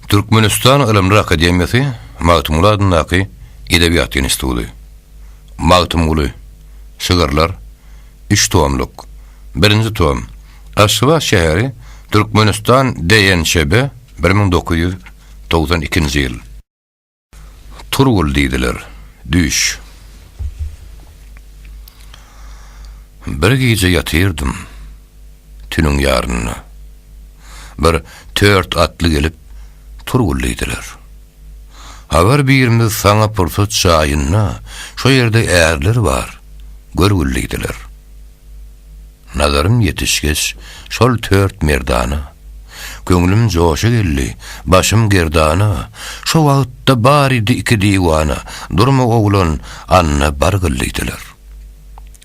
Türkmenistan Ylymlar akademiýasy Magtymguly adyndaky Edebiýat institudy. Magtymguly, Şygyrlar, üç tomluk, birinji tom, Aşgabat şäheri, Türkmenistan DNÇB, bir müň dokuz ýüz togsan ikinji ýyl. Turgul diýdiler. Düş. Bir gije ýatyrdym. Tüniň ýarynda. Bir tört atly gelip, Turgul diýdiler. Abar birimiz saňa pursat jaýyna, şo ýerde ärler bar, görgül diýdiler. Nazarym ýetişgeç, şol tört merdana, Köňlüm joşa geldi, başym gerdana, Şo wagtda baridi iki diwana, Durma oglan, anna bar gyl diýdiler.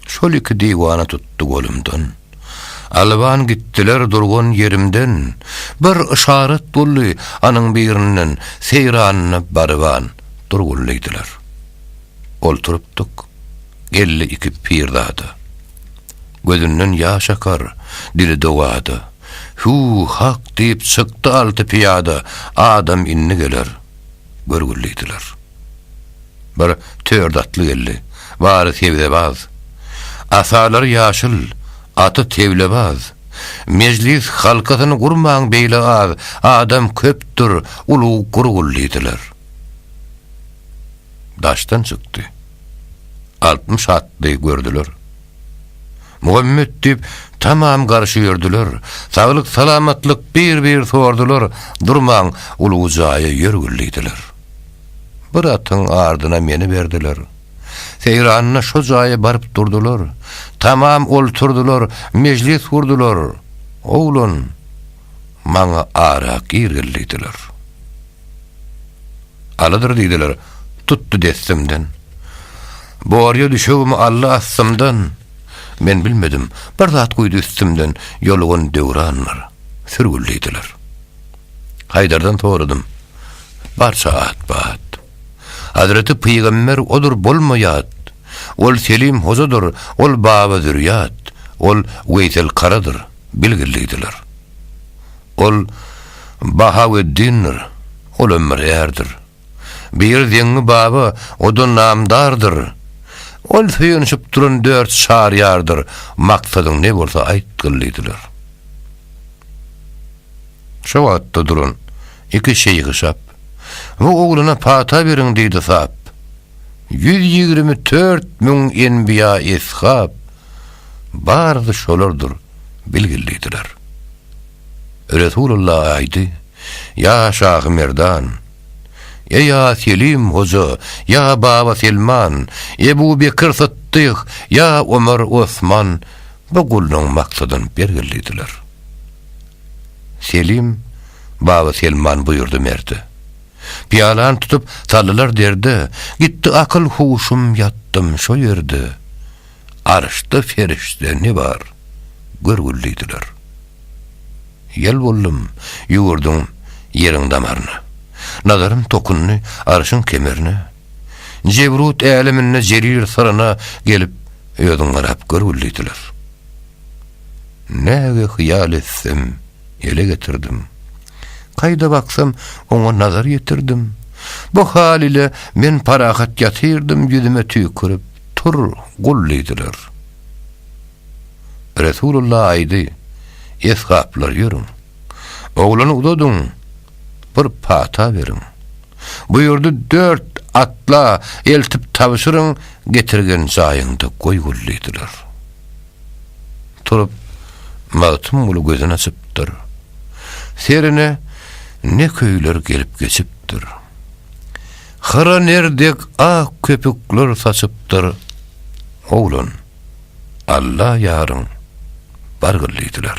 Şol iki diwana tutdy golumdan, Alban gitdiler durgan ýerimden, Bir yşarat boldy anyň birinden, Seýranyna baryban dur gul diýdiler. Oturypdyk. Geldi iki pirzada. Gözünden ýaş akar, dili dowada. Hüw, hak diýip çykdy alty pyýada, Adam indi geler. Görgül diýdiler. Bir tört atly geldi. Bary sebzebaz. Asalary ýaşyl, aty tewlebaz. Mejlis halkasyny gurmaň beýle az, Adam köpdür, ulag gurgul diýdiler. daşdan çykdy. Altmyş atly gördüler. Muhammet diýip, tamam garşy ýördüler. Saglyk-salamatlyk bir-bir sordular, durman ulug jaýa ýör güllidiler. Bir atyň ardyna meni berdiler. Seýranda şo jaýa baryp durdular. Tamam olturdylar, mejlis gurdular. Oglan, maňa arak ir gillidiler. Alydyr diýdiler, tutdy dessimden. Borýa düşegimi aldy astymdan. Men bilmedim, bir zat guýdy üstümden, ýolugan döwranlar, sürgül diýdiler. Haýdardan soradym, barça at-bat. Hazreti pygamber odur bolma ýat, Ol Selim hojadyr, ol Baba Zürýat, ol Weýsel Karadyr. bilgillidiler. Ol Bahaweddindir, ol ömürýärdir. Bir Zeňňi baba, o-da namdardyr. Ol söýenişip duran dört Çaryýardyr, maksadyň ne bolsa aýtgyllidiler. Şo wagtda duran iki şeýhi şap, Bu oglana pata beriň diýdi sap. Ýüz ýigrimi tört müň enbiýa-eshap, Barysy şolardyr bilgillidiler. Resulalla aýdy, Ýa Şahy Merdan! Ýa Ýa Selim Hoja! Ýa Baba Selman! Ebu Bekir Sytdyk! Ýa Omar Osman! Bu gullugyň maksadyny belgillidiler. Selim, Baba Selman buýurdy merde. Pyýalany tutup saldylar derde, Gitdi akyl-huşum ýatdym şo ýerde. Arşda perişde ne bar, görgül diýdiler. Ýel boldum, ýüwürdüm ýeriň damaryna. Nazarym tokundy Arşyň kemerine. Jebrut äleminde jerir syryna gelip, özüň garap görgül diýdiler. Näge hyýal etsem, ele getirdim. Kaýda baksam, oňa nazar ýetirdim. Bu hal ile men parahat ýatyrdym ýüzüme tüýkürip. Tur, gul diýdiler. Resulullah aýdy, Esgaplar ýörüň. Oglany uzadyň, bir pata beriň. Buýurdy, Dört atla eltip tabşyryň, getirgen jaýyňda goý gul diýdiler. Turup, Magtymguly gözün açypdyr. Serine ne köýler gelip geçipdir. Hyra ner dek ak köpükler saçypdyr. Oglan, Alla ýaryň, bargyl diýdiler.